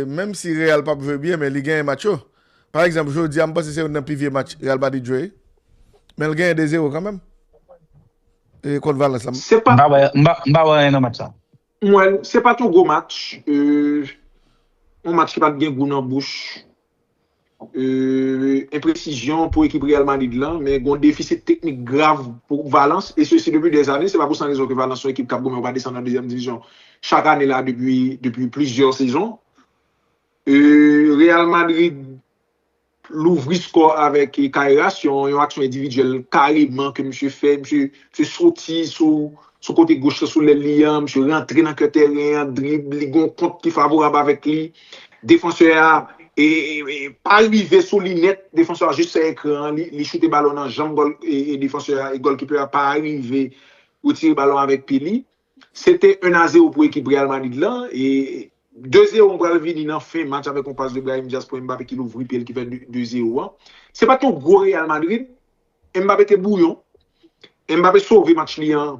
Menm si Real pap jwe byen men li genyen match yo. Pa egzanp jodi a m panse se youn nan pi vye match Real Madrid jwe. Men l genyen 2 zero kanmenm. E kont Valence la. M pa wè anyen nan match sa. M wè l, se pa t yon gwo match, yon match ki pa t gen gou nan bouch. Enpresizyon pou ekip Real Madrid lan, men gen yon defisit teknik grav pou Valence, e sesi depi dè zane, se pa pou san rezon ke Valence se yon ekip k ap goumen pou pa desann nan dezyèm divizyon chak ane la depi plizyè sezon. Real Madrid. louvri skò avèk Kairas, yon aksyon endividyèl kareman ke misye fè, misye soti sou kote goch la, sou lèl li an, misye rantre nan kè tèren an, drib, li gen yon kont ki favorab avèk li, defansè a pa rive sou li nèt, defansè a jis fè ekran an, li choute balon nan janm defansè a, e golkipè a pa rive retire balon avèk pye li, Se te 1 a 0 pou ekip Real Madrid la e 2 0 an pral vini nan fen match avèk yon pas de Brahim Diaz pou Mbappé ki louvri pye l ki fè 2 0 an. Se pa t yon gwo Real Madrid, Mbappé te bouyon, Mbappé sove match li an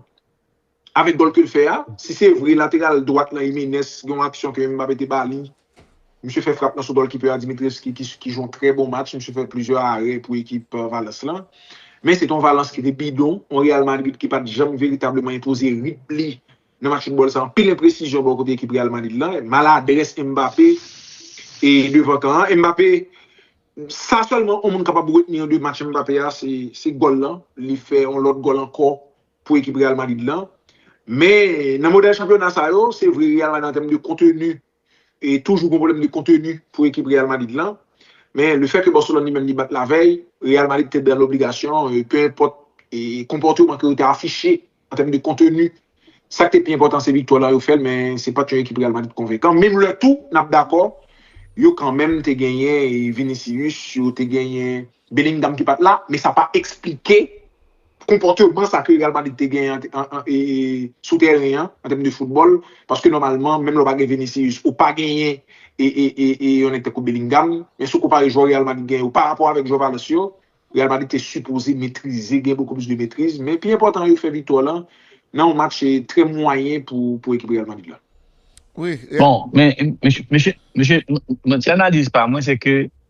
avèk gòl ke l fè a, si se vre lateral dwat lan Jiménez gen yon aksyon ke Mbappé te ba li Misye fè frap nan sou gòlkipè a Dimitrievski ki jwe yon trè bon match, misye fè plizyè arè pou ekip Valence lan. Men se te yon Valence ki te bidon, yon Real Madrid ki pat janm veritableman enpoze ritm li nan match foutbòl sa. Anpil enpresizyon bò kote ekip Real Madrid lan, maladrès Mbappé e devan kan an. Mbappé, sa sèlman yon moun kapab retni an de match Mbappé a se gòl lan, li fè yon lòt gòl ankò pou ekip Real Madrid lan. Men nan modèl chanpyona sa yo, se vre Real Madrid an tèm de konteni E toujou gen pwoblèm de konteni pou ekip Real Madrid lan. Men le fè ke Barcelone li menm li bat lavèy, Real Madrid te dan lobligasyon, pe enpòt konpòteman ke yo te afiche an tèm de konteni, sa ki te pi enpòtan se viktwa lan yo fè l, men se pat yon ekip Real Madrid konvenkan. Menm lè tou, n ap dakò, yo kanmenm te genyen Vinicius, yo te genyen Bellingham ki pa t la, men sa pa eksplike konpòteman sa ke Real Madrid te genyen sou tèren an, an tèm de foutbòl, paske nòmalman, menm lè w pa gen Vinicius, ou pa genyen yon nèg tankou Bellingham, men si w konpare jwè Real Madrid genyen yo parapò avèk jwè Valence yo, Real Madrid te sipoze metrize, gen bokou plis de metriz, men pi enpòtan yo fè viktwa lan, nan yon match trè mwayen pou ekip Real Madrid la. Bon, men, mesye, mesye, mwen ti analiz pa mwen se ke.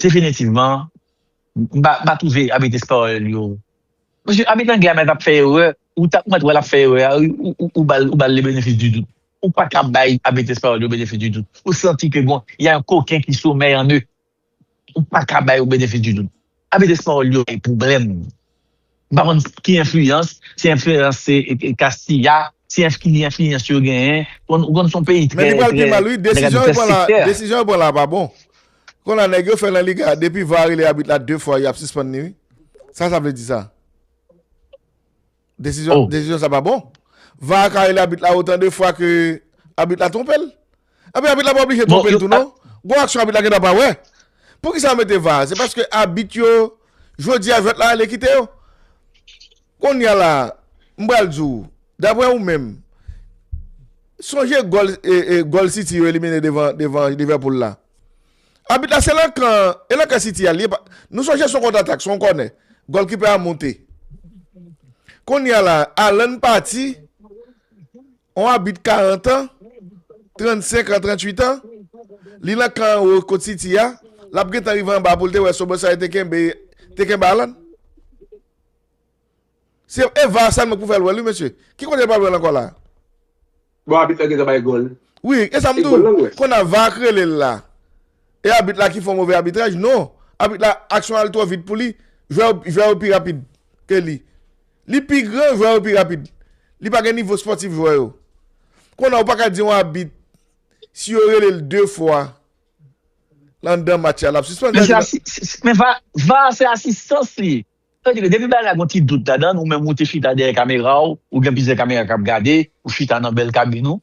Definitivman, m pa twouve abit espayòl yo. Paske abit anglè a mèt ap fè erè, ou mèt wè l ap fè erè a, ou ba l le benefis di dout. Ou pa ka bay abit espayòl yo benefis di dout. Ou santi ke gon, y a un coquin qui sommeille en eux. Ou pa ka bay yo benefis di dout. Abit espayòl yo bay pwoblèm. M pa konn ki enfliyans, si enfliyans se Castilla, si ki enfliyans yo genyen. Ou konn se yon peyi trè, trè, nèg a di trè sektè. Desizyon yo pran la pa bon. Kon la nèg yo fè La Liga, depi var rele abit la 2 fwa, y ap sispann li wi. Sa sa vle di sa? Desizyon sa pa bon. Var ka rele abit la otan de fwa ke abit la twonpe l. Epi abit la pa oblije twonpe l tou non. Gwo aksyon abit la gentan pa wè. Poukisa yo mete var? Se paske abit yo, jodi a jwèt la ale kite yo. Konnya la, m pral di w, daprè ou menm, sonje gòl gòl City yo elimine devan devan Liverpool la. Abit la se lan kan, e lan kan City a li ye pa, nou sonje son kontratak, son kònè, gòlkipè a monte. Konnya la, Haaland pati, On abit 40 an, 35 an, 38 an, li lan kan an wo kot City a, lap gentan rive anba poul te wè Sobosay te kenbe te kenbe Haaland. Se e var selman k pou fèl wèl wi mesye. Ki kote l pral wèl ankò la? Bon abit la gentan bay gòl. Wi, e sa m di w, konn a var k rele l la. E abit la ki fè w move abitraj? Non. Abit la aksyon al twò vit pou li, jwè yo jwè yo pi rapid ke li. Li pi gran, jwè yo pi rapid. Li pa gen nivo spòtif jwè yo. Kounye a ou pa ka di yon abit si yo rele l 2 fwa anndan match a l ap sispann Men se a men var var a se asistans li. Sa vle di ke depi bagay la gen yon ti dout ladan l ou menm ou te chita dèyè kamera w ou gen plizyè kamera k ap gade ou chita nan bèl kabin ou.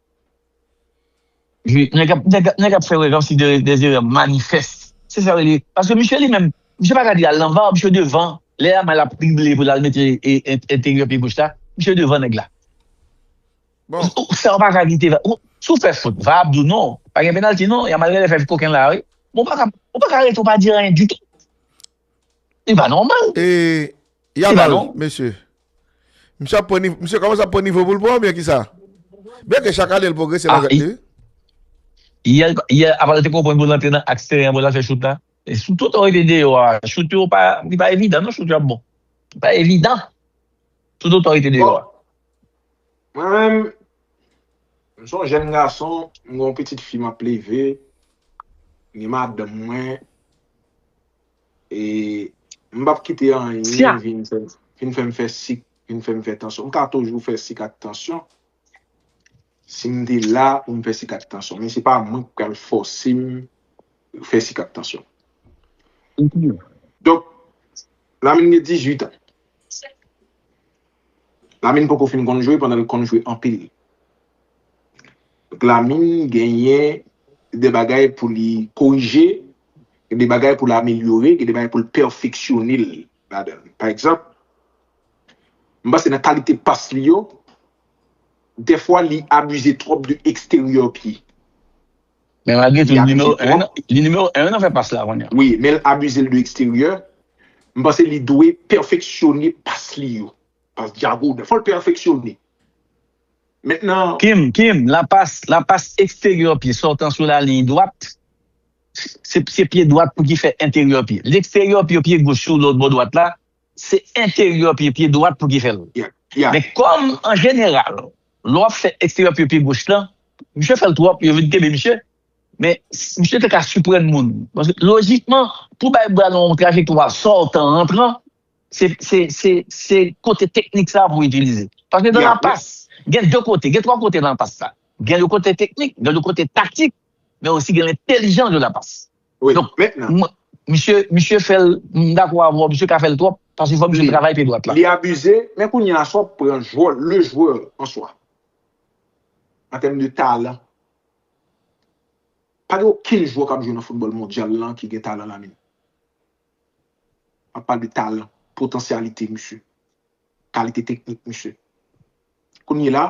Nèg ap fè wè kòmsi Désiré manifès se sa yo rele paske misye li menm misye paka di al nan var misye devan lè Yamal ap drible pou lal mete enteryè pye goch la misye devan nèg la sa ou paka di te var si w fè fot var ap di w non pa gen penalty non Yamal genlè fè koken la wi men ou paka rete ou pa di anyen ditou. Li pa nòmal. E Yamal mesye? Misye ap pran nivo, misye kòmanse ap pran nivo pou l pran oubyen kisa? Byen ke chak ane l pwogrese nan jwèt li wi. Yè yè apa l te konprann pou l antre nan aks teren an pou l al fè chout la? Sou tout an rete deyò a, chout yo pa, li pa evidan non chout yo ap bon. Li pa evidan. Tout otan w rete deyò a. Mwen menm, m son jèn gason, m gen yon pitit fi m ap leve, m gen madanm mwen, e m p ap kite anyen vin fè m fè sik, vin fè m fè tansyon. M ka toujou fè sik ak tansyon, si m te la pou m fè sik ak tansyon, men se pa mwen ki pral fòse m fè sik ak tansyon. Donk, la m gen 18 an. Lamine poko fin konn jwe pandan l konn jwe anpil. Donk Lamine genyen de bagay pou li korije, gen de bagay pou l amelyore, gen de bagay pou l pèfeksyone l ladan l. Pa egzanp, m panse nan kalite pas li yo, dèfwa li abize twòp de eksteryè pye. Men malgre tou li nimewo 1 nan, li nimewo 1 nan fè pas la kounye a. Wi, men l abize l de eksteryè. M panse li dwe pèfeksyone pas li yo. Pas Djagoud, fò l pèfeksyone. Mentnan. Kim, Kim, la pas, la pas eksteryè pye sòtan sou laliy dwat, se pye dwat pou ki fè enteryè pye. Leksteryè pye, pye goch sou lòt bò dwat la, Se enteryè pye pye dwat pou ki fè l. Men kòm an jeneral lè w ap fè eksteryè pye pye goch lan, misye fè l twòp yo vin kenbe misye. Men misye te ka siprann moun. Paske lojikman pou w bay bra nan yon trajektwa sòt an rantran, se kote teknik sa pou w itilize. Paske nan lanpas gen 2 kote, gen 3 kote nan lanpas la. Gen yon kote teknik, gen yon kote taktik, men osi gen entelijans de lanpas. Donk, misye, misye fè l, m dakò avè w, misye ka fè l twòp, paske fò misye travay pye dwat la. Li abize, men kounye a Sop pran jwòl, le joueur en soi, an tèm de talan. Pa gen okenn jwè k ap jwe nan foutbòl mondyal lan ki gen talan Lamine. M ap pale de talan, potansyalite misye, kalite teknik misye. Kounye la,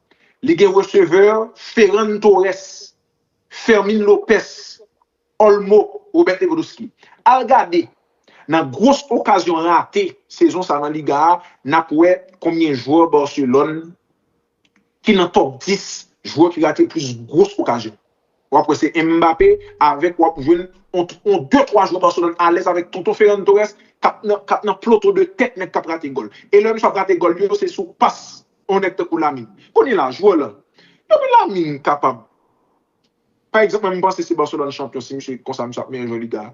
Li gen resevè Ferran Torres, Fermin Lopez, Olmo, Robert Lewandowski. Al gade nan gwos okazyon rate sezon sa nan Liga a, n ap wè konbyen jwè Barcelone ki nan top 10 jwè ki rate plis gwos okazyon. Wap wè se Mbappé avèk wap jwenn yon de twa jwè Barcelone alèz avèk tonton Ferran Torres kap nan kap nan ploto de tèt nèg kap rate gòl. E lè yon sa rate gòl li yo se sou pas yon nèg tankou Lamine. Kounye la jwè lan depi Lamine kapab pa egzanp mwen mpanse si Barcelone chanpyon si misye konsa misye ap meyè jwè liga a.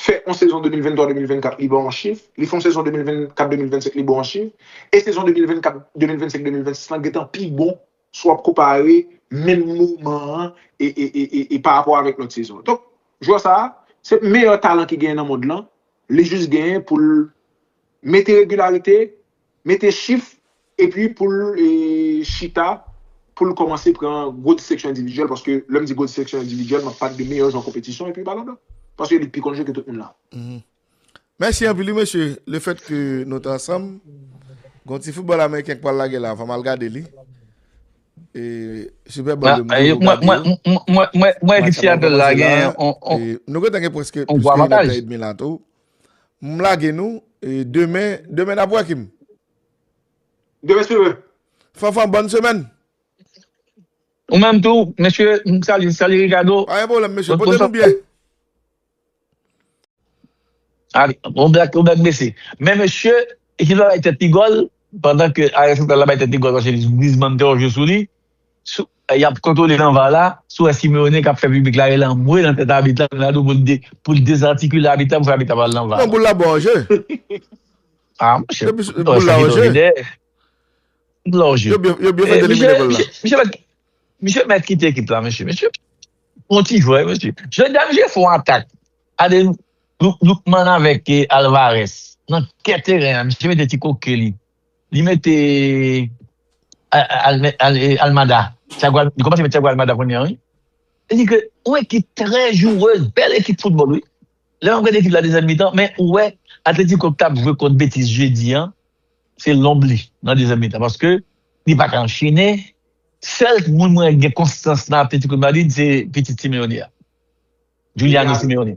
fè on sezon 2023-2024 li ba w on chif, li fè on sezon 2024-2025 li ba w on chif, e sezon 2024-2025-2026 lan gentan pi bon si w ap konpare menm moman an e pa rapò avèk lòt sezon. Donk, jwè sa a, se meyè talan ki genyen nan mond lan, li jis genyen pou l mete regilarite, Mete chif epi pou l chita pou l kòmanse pran gwo disteksyon endividyèl paske lè m di gwo disteksyon endividyèl m ap pale de meyè jwè konpetisyon epi Balon dò paske li pi konn jwe ke tout moun la a. Mèsi anpil wi mesye le fèt ke nou t ansanm gon ti foutbòl ameriken k pral lage la fòm al gade li e sipè bòl yo m toujou gade yo match k ap al kòmanse la a nou gentan gen prèske plis ke 1 èdtan edmi la tou. M lage nou e demen demen nap wè kim. Demen sou demen. Fanfan bòn semèn. Ou menm tou mesye m salye salye Ricardo. Pa gen pwoblèm mesye pote nou byen. Alé bon black bon black bese. Men mesye ekip la bay tèt li gòl pandan ke Arsenal la bay tèt li gòl paske Griezmann te yon jwe sou li sou yap kontwole kanva la, si w wè Simeone kap fè piblik la rele anmwe nan tèt abit la, Ronaldo pou l dezartikile abit la pou fè abit la pa al nan var. Non boul la bon an je. Ah monchè, boul la an je. Boul la an je. Yo byen fèt elimine boul la. Misye mèt, misye mèt kite ekip la mesye, mesye on ti jwè mesye. Jwè dam je fon atak ade Loukman avèk Alvarez nan kè teren an misye mete ti koke li. Li mete Almada. Li komanse met Thiago Almada kounye an wi. Se di ke yon ekip trè jouwez, bèl ekip foutbòl wi. Lè map gade ekip la dezyèm mitan, men ou wè Atlético ki tap jwe kont Betis jedi an, se lonb li nan dezyèm mitan paske li pa ka anchene. Sèl moun mwen wè ki gen konstans nan Atlético de Madrid se pitit Simeone a, Juliano Simeone.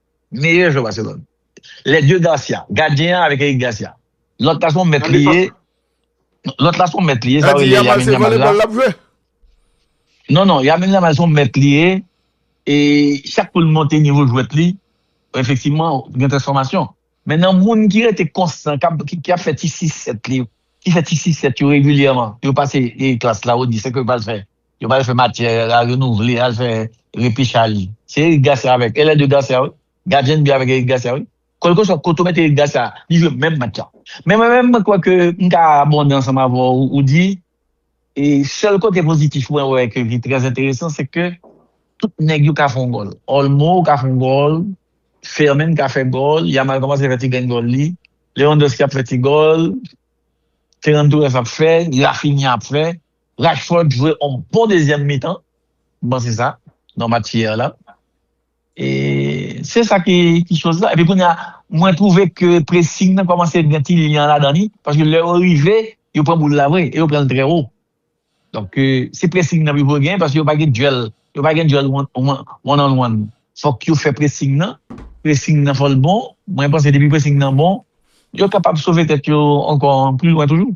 Meyè jwè Barcelone. Les deux Garcia. Gadyen an avèk Eric Garcia. Lòt la se yon mèt An li ye. defans. Lòt la se yon mèt li ye. Sa Sa vle di di Yamal Lamine se Yamal la. volebòl l ap jwe? Non non, Lamine Yamal se yon mèt li ye e chak kou l monte nivo jwèt li, efektivman gen transfòmasyon. Men nan moun ki rete konstan, k ap ki ap fè ti 6 7 li yo, ki fè ti 6 7 yo regilyèman, yo pase klas la ou di se ke yo pa l fè Yo pral fè matyè a renouvle, al fè repicha li. Se Eric Garcia avèk Elè de Garcia wi. Gadyen dbi avèk Eric Garcia wi. Kèlkeswa kote ou met Eric Garcia, li jwe menm match la. Men mwen menm mwen kwè ke m ka abonde ansanm avè w ou di e sèl kote pozitif mwen wè ke ki trè enteresan se ke tout nèg yo ka fè yon gòl. Olmo ka fè yon gòl, Fermin ka fè gòl, Yamal kòmanse fè ti grenn gòl li, Lewandowski ap fè ti gòl, Ferran Torres ap fè, Raphinha ap fè. Rashford jwe yon bon dezyèm mitan, m panse sa, nan match hier la. E se sa ki choz la. Epi kounya mwen twouve ke pressing nan kòmanse gen ti lyen ladan li, paske lè yo rive, yo pran boul la vre e yo pran l trè wo. Donk se pressing nan pou yo genyen paske yo pa gen duel, yo pa gen duel one on one. Fòk yo fè pressing nan, pressing nan fò l bon, mwen panse depi pressing nan bon, yo kapab sove tèt yo ankò pi lwen toujou.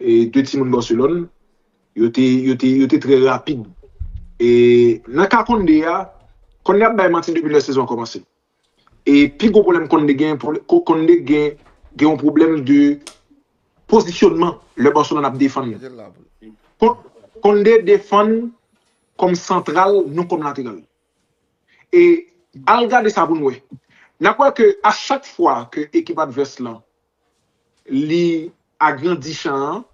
2 timoun Barcelone, yo te yo te yo te trè rapid. E nan ka Conde a, Conde ap bay manti depi lè sezon an kòmanse. E pi gwo pwoblèm Conde gen, Conde gen gen yon pwoblèm de pozisyonman lè Barcelone ap defann. Conde defann kòm santral, non kòm lateral. E al gade sa pou nou wè. N ap wè ke a chak fwa ke ekip advès lan Li agrandi chan an.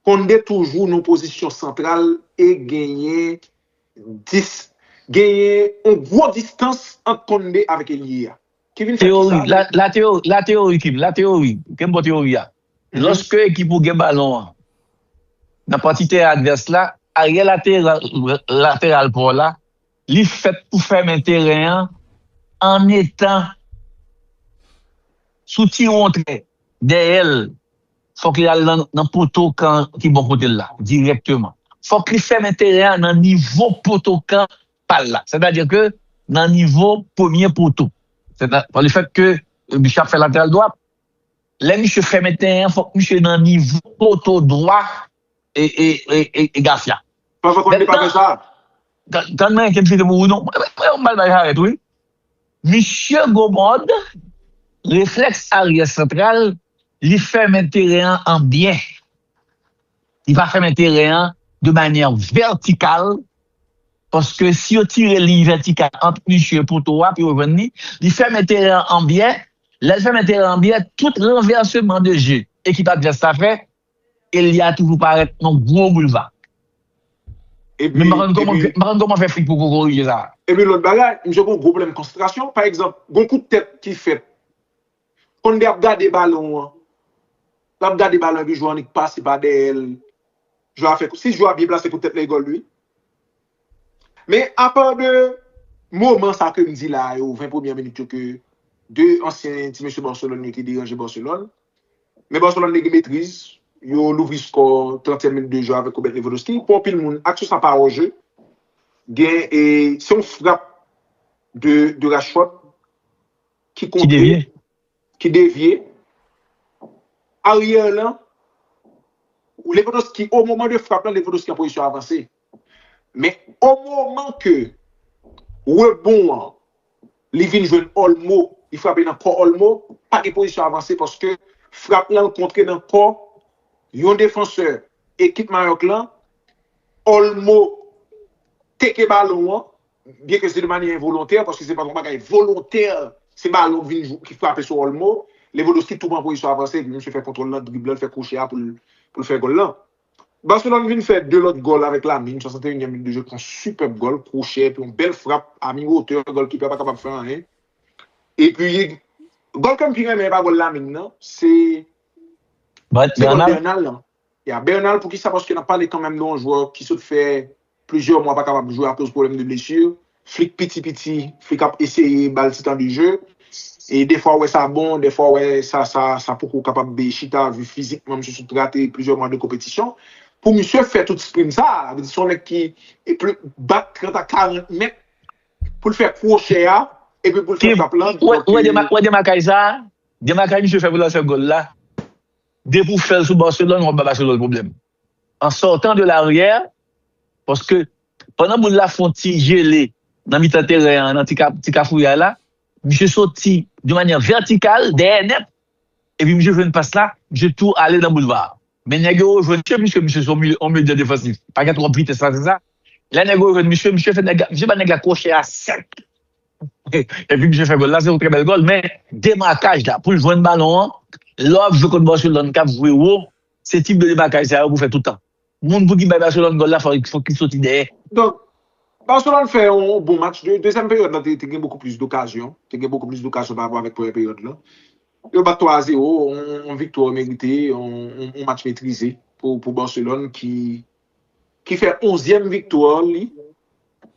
Conde toujou nan pozisyon santral e genyen 10. Genyen yon gwo distans ant Conde avèk Elie a. Ki vin fè ki sa? Theory, la theory Kim, la theory. Ke m ba w theory a. Lòske ekip ou gen balon an nan pati tèren advès la, aryè lateral pa w la Li fèt pou fèmen teren an an etan sou ti won trè dèyè l. Fòk li al nan poto kan ki bò kote l la dirèkteman. Fòk li fèmen teren an nan nivo poto kan pa l la. Sètadi ke nan nivo premye poto. Sètadi le fèt ke misye ap fè lateral dwat, lè misye fèmen teren an fòk misye nan nivo poto dwat e gafia. Sa fè konn li pa fè sa. Tann mwen kem fini pou ou non. Mwen yon bal bay jarèt wi. Misye gwo mòd, reflèks aryè santral, li fèmen teren an an byen. Li pa fèmen teren an de manyè vètikal, paske si yo tire liy vètikal ant misye e poto a pou yo jwenn li, li fèmen teren an an byen, lè l fèmen teren an byen, tout ranvèseman de je ekip advès la fè, Elia toujou parèt nan gwo boulva. Epi, epi. M pa konn kòman fè fig pou po korije sa. Epi lòt bagay, misye gen yon gwo pwoblèm konsantrasyon. Pa egzanp, gen yon kout tèt ki fèt. Kounde ap gade balon an. L ap gade balon epi jwè an annik pase pa dèyè l. Jwè a fè kout. Si jwè a byen plase kout tèt la e gòl wi. Men apa de moman sa kem di la yo 20 premyè minit yo ke 2 ansyen ti mesye Barcelone yo te deranje Barcelone. Men Barcelone te gen metriz, yo louvri skò 30 yèm minit de jeu avèk Robert Lewandowski. Pou anpil moun aksyon sa pa hors jeu. Gen e se yon frap de de Rashford ki kontre, ki devye. Arrière lan Lewandowski o moman de frap lan Lewandowski an pozisyon avanse. Men o moman ke rebon an li vin jwenn Olmo, li frape nan kò Olmo, pa gen pozisyon avanse paske frap lan kontre nan kò yon defansè ekip Mayòk lan, Olmo teke balon an, byen ke se de manyè envolontè paske se pa yon bagay volontè, se balon ki vin ki frape sou Olmo, Lewandowski tou pran pozisyon avanse epi misye fè kontwòl lan, dribble, fè kwoche a pou l fè gòl lan. Barcelone vin fè 2 lòt gòl avèk Lamine, 61 nyèm minit de jeu, yon sipèb gòl, kwochè, epi yon bèl frap a mi wotè, gòlkipè a pa kapab fè anyen. Epi, gòl ke m pi renmen e pa gòl Lamine nan, se gòl Bernal lan. Ya, Bernal, poukisa, paske n ap pale kanmèm de yon jwè ki sot fè Plizyè mwa pa kapab jwe akoz pwoblèm de blesu. Flick piti piti, Flick ap eseye ba l ti tan de jeu. E defwa w wè sa bon, defwa w wè sa sa poko kapab chita vu fizikman misye sot rate plizyè mwa de konpetisyon. Pou misye fè tout sprint sa, sa vle di se yon nèg ki bat 30 a 40 mèt pou l fè kwochè a epi pou l fè frap lan. Ou wè demakaj sa? Demakaj misye fè pou l al fè gòl la, depi w fè l sou Barcelone, w ap ba Barcelone pwoblèm. an sortant de l'arrière paske pandan boul la fon ti jele nan mitan teren an nan ti kafouyay la misye soti de manyè vètikal dèyè nèt epi misye jwenn pas la misye tou ale nan boulva a men nèg yo rejwenn misye piske misye se yon milye defansif pa gen twòp vitès nan sans sa lè nèg yo rejwenn misye misye fè nèg la misye ba nèg la kwochè a sèk epi misye fè gòl la se yon trè bèl gòl men demakaj la poul jwenn balon an lè wap jwe kont Barcelone kap jwe wo Se tip de de bagay sa yo pou fè tout tan. Moun pou ki bay Barcelone gòl la fòk li soti dèyè. Donk, Barcelone fè yon bon match. Dezyèm peryòd la te gen bokou plis dokazyon. Te gen bokou plis dokazyon pa rapò avèk premyè peryòd la. Yo bat 3 a 0, yon viktwa merite, yon match metrize pou Barcelone ki ki fè onzyèm viktwa li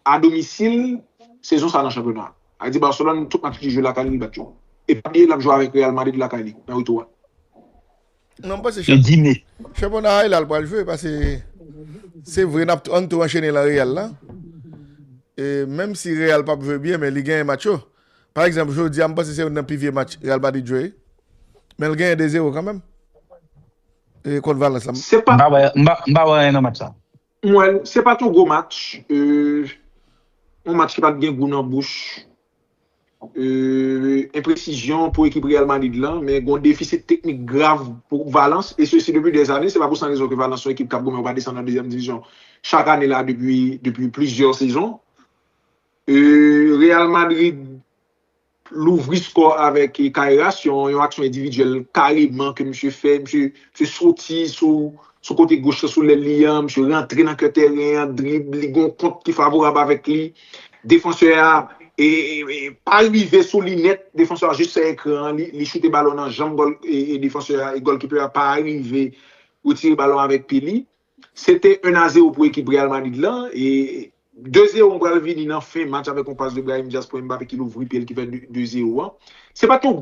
a domisil sezon sa nan chanpyona a. Sa vle di Barcelone tout match li jwe lakay li, li bat yo. E pa bliye l ap jwe avèk Real Madrid lakay li nan retou a. Non m panse chanpyona a la l pral jwe pase se vre nap ann tou anchene lan Real la. E menm si Real pap jwe byen men li genyen match yo. Pa egzanp jodi a m panse se youn nan pi vye match Real Madrid jwe. Men l genyen 2 zewo kanmenm. E kont Valence la? Se pa. M pa wè anyen nan match sa. M wè l. Se pa t yon gwo match. Yon match ki pa t gen gou nan bouch. Enpresizyon pou ekip Real Madrid la. Men gon defisi teknik grav pou Valence. E sesi depi dè zane. Se pa pou san rezon ke Valence son ekip k ap goumen pou pa desann nan dezyèm divizyon chak ane la depi plizyè sezon. Real Madrid louvri skò avèk Kaïras, yon aksyon endividyèl kareman ke misye fè, misye soti sou kote goch la, sou lèl li a, misye rantre nan kè tèren an, drib, li gen yon kont ki favorab avèk li, defansè a pa rive sou li nèt, defansè a jis fè ekran an, li choute balon nan janm defansè a, e gòlkipè a pa rive retire balon avèk pye li. Se te 1 a 0 pou ekip Real Madrid la e 2 0 an pral vini nan fen match avèk yon pas de Brahim Diaz pou Mbappé ki louvri pye l ki fè 2 0 an. Se pa t yon